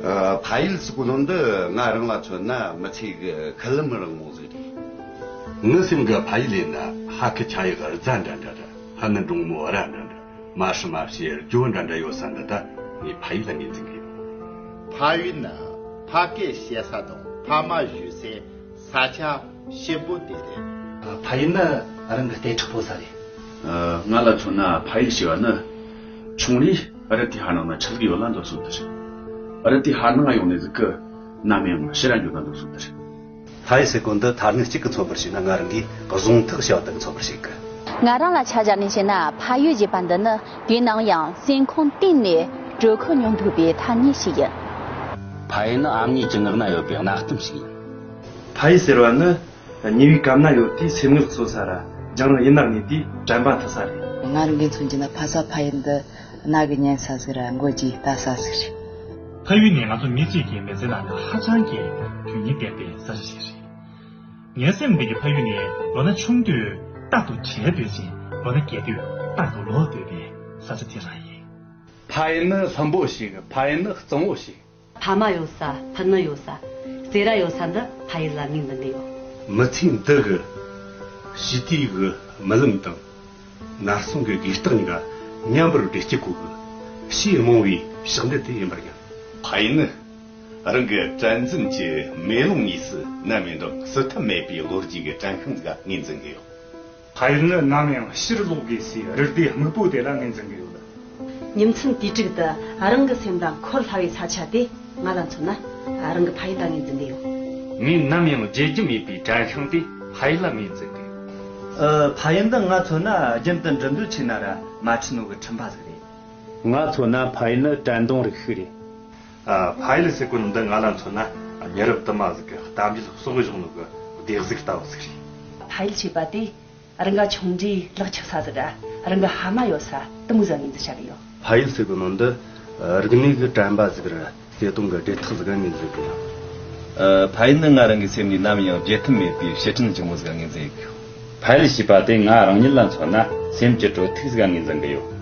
ཕ་ཡུལ་གཙུག་ལྷོ་འདི་ང་རང་ལ་མཚོན་ན་མི་ཚེ་གི་ཁི་ལུམ་རིང་མོ་ཟིག་རེད། ངའི་སེམས་ཀྱི་ཕ་ཡུལ་ཡིན་ན་ཧ་ཁི་ཆང་ཡག་རྫ་འདྲ་འདྲ་དང་ཧ་ནི་འབྲོང་མོ་ར་འདྲ་འདྲ་མ་ཧྲི་མ་ཕྱི་ཡར་ཇོ་འདྲ་འདྲ་ཡོད་ས་འདི་དག་ངའི་ཕ་ཡུལ་ལ་ངེས་འཛིན་གྱི་ཡོད། ཕ་ཡུལ་ནི་ཕ་སྐད་བཤད་ས་དང་ཕ་མ་བཞུགས་སའི་ས་ཆ་ཞིབ་པོ་དེ་རེད། ཕ་ཡུལ་ནི་རང་གི་ལྟས་འཁྲུག་པོ་ས་རེད། ང་ལ་མཚོན་ན་ཕ་ཡུལ་ཞེས་པ་ནི། ཆུང་རི་ཨ་རི་ཏི་ཧ་ནང་ན་ཆགས་ཀྱི་ཡོད་ལ་འདུག་སོང་དེར། ཨ་རི་ཏི་ཧ་ནང་ཡོང་ནས་གཟིགས་སྐུ། མནའ་མའི་ངོ་ཤེས་ར་འགྱོད་ན་འདུག་སོང་དེར། ཕ་ཡུལ་ཟེར་གོ་འདི་ཐ་སྙད་གཅིག་གི་མཚོན་པར་བྱས་ན་ང་རང་གིས་གཟུང་ཐག་བྱས་པ་དག་གི་མཚོན་པར་བྱེད་དགོས། ང་རང་ལ་ཆ་བཞག་ནས་བཤད་ན་ཕ་ཡུལ་ཞེས་པ་འདི་ནི་དུས་ནམ་ཡང་སེམས་ཁོང་གཏིང་ནས་དྲོད་ཁོལ་མྱོང་ཐུབ་པའི་ཐ་སྙད་ཞིག་ཡིན། ཕ་ཡུལ་ནི་ཨ་མྱེས་ཀྱི་ངག་ན་ཡོད་པའི་གནའ་གཏམ་ཞིག་ཡིན། ཕ་ཡུལ་ཟེར་བ་ནི་ཉེ་བའི་གབ་ན་ཡོད་དུས་སེམས་ངལ་བཙོ་ས་ར་རྒྱང་རིང་ཡིན་ནར་ངེས་དུས་དྲན་པ་མཐུ་ས་རེད། ང་རང་གིས་མཚོན་གྱི་ན་ཕ་ས་ཕ་ཡུལ་འདི་རྣ་གི་སྙན་ས་ཟིག་ར་མགོ་རྗེའི་ལྟ་ས་ཟིག་རེད། ཕ་ཡུལ་ནི་ང་ཚོ་མི་གཅིག་གི་མི་ཚེ་ནང་ནས་ཧ་ཅང་གི་དོན་སྙིང་ལྡན་པའི་ས་ཆ་ཞིག་རེད། ངའི་སེམས་ནང་གི་ཕ་ཡུལ་ནི་ལོ་ན་ཆུང་དུས་རྟག་ཏུ་བྲལ་འདོད་ཅིང་ལོ་ན་རྒས་དུས་རྟག་ཏུ་ལོག་འདོད་པའི་ས་ཆ་དེ་རང་ཡིན། ཕ་ཡུལ་ནི་ལྷུན་པོ་ཞིག་ཕ་ཡུལ་ནི་གཙང་བོ་ཞིག། ཕ་མ་ཡོད་ས་ཕུ་ནུ་ཡོད་ས་རྩེ་ར་ཡོད་ས་འདི་ཕ་ཡུལ་ལ་མིང་འདི་འདི་ཡོད། མི་ཚེའི་འདི་གི་ཞི་བདེའི་གི་རྨི་ལམ་དང། ནར་སོན་གི་དགོས་རྟགས་གཉིས་ཀ་མཉམ་པོར་བསྒྲིལ་སྐྱེ་དགུ་གི་ཕྱིའི་རྨོངས་བའི་ཞག་འདི་དེ་ཡིན་པར་སྙམ། ཕ་ཡུལ་ནི་རང་གི་དྲན་འཛིན་གྱི་མེ་ལོང་གཉིས་སུ་བསྣན་པའི་འགྲོ་སུ་ཐབས་མེད་པའི་ལོ་རྒྱུས་ཀྱི་བྲན་ཁང་འགའ་ངོས་འཛིན་གི་ཡོད། ཕ་ཡུལ་ནི་ནམ་ཡང་ཕྱིར་ལོག་དགོས་སའི་རི་རྟའི་སྨུག་པོ་དེ་ལ་ངོས་འཛིན་གྱི་ཡོད། ཉིན་མཚན་དུས་དྲུག་ཏུ་རང་གི་སེམས་དང་འཁོར་སླ་བའི་ས་ཆ་དེ་ང་ལ་མཚོན་ན་རང་གི་ཕ་ཡུལ་ལ་ངོས་འཛིན་གྱི་ཡོད། ངས་ནམ་ཡང་བརྗེད་རྒྱུ་མེད་པའི་བྲན་ཤིང་དེ་ཕ་ཡུལ་ལ་ངོས་འཛིན་གྱི་ཡོད། ཕ་ཡུལ་འདི་ང་མཚོན་ན་རྒྱུན་དུ་འགྲིམ་འགྲུལ་ཆེ་ན་ར་མ་འཕྲི་ནོ་གི་འཕྲིན་ཕ་ཟིག་རེད། ང་མཚོན་ན་ཕ་ཡུལ་ནི་དྲན་གདུང་རིགས་ཤིག་རེད། ཕ་ཡུལ་སི་ཀོན་འདི་ང་ལ་མཚོན་ན་ཉེ་རབས་དུ་མ་ཟིག་གི་གཏམ་རྒྱུད་གསོག་འོས་གཞུང་ལུགས་ཀྱི་བདེ་གཟུགས་ལྟ་བུ་ཟིག་རེད། ཕ་ཡུལ་ཞེས་པ་དེ་རི་འགའ་ཆུང་གྲས་ལག་འཁྱག་ས་ཟིག་རི་འགའ་ཧ་མ་ཡོད་ས་དུ་མུ་ཟ་ངེས་འཛིན་བྱ་གི་ཡོད། ཕ་ཡུལ་སི་ཀོན་འདི་རིག་གནས་ཀྱི་དྲན་པ་ཟིག་རེད་བརྩེ་དུང་གི་བྲེལ་ཐག་ཟིག་ངེས་འཛིན་གི་ཡོད། ཕ་ཡུལ་ནི་ང་རང་གི་སེམས་ནས་ནམ་ཡང་བརྗེད་ཐབས་མེད་པའི་ཞི་མཐུན་ཆེན་མོ་ཟིག་ངེས་འཛིན་གི་ཡོད། ཕ་ཡུལ་ཞེས་པ་དེ་ང་རང་ཉིད་ལ་མཚོན་ན་སེམས་ཀྱི་དྲོད་ཐིགས་ཟིག་ངེས་འཛིན་གི་ཡོད།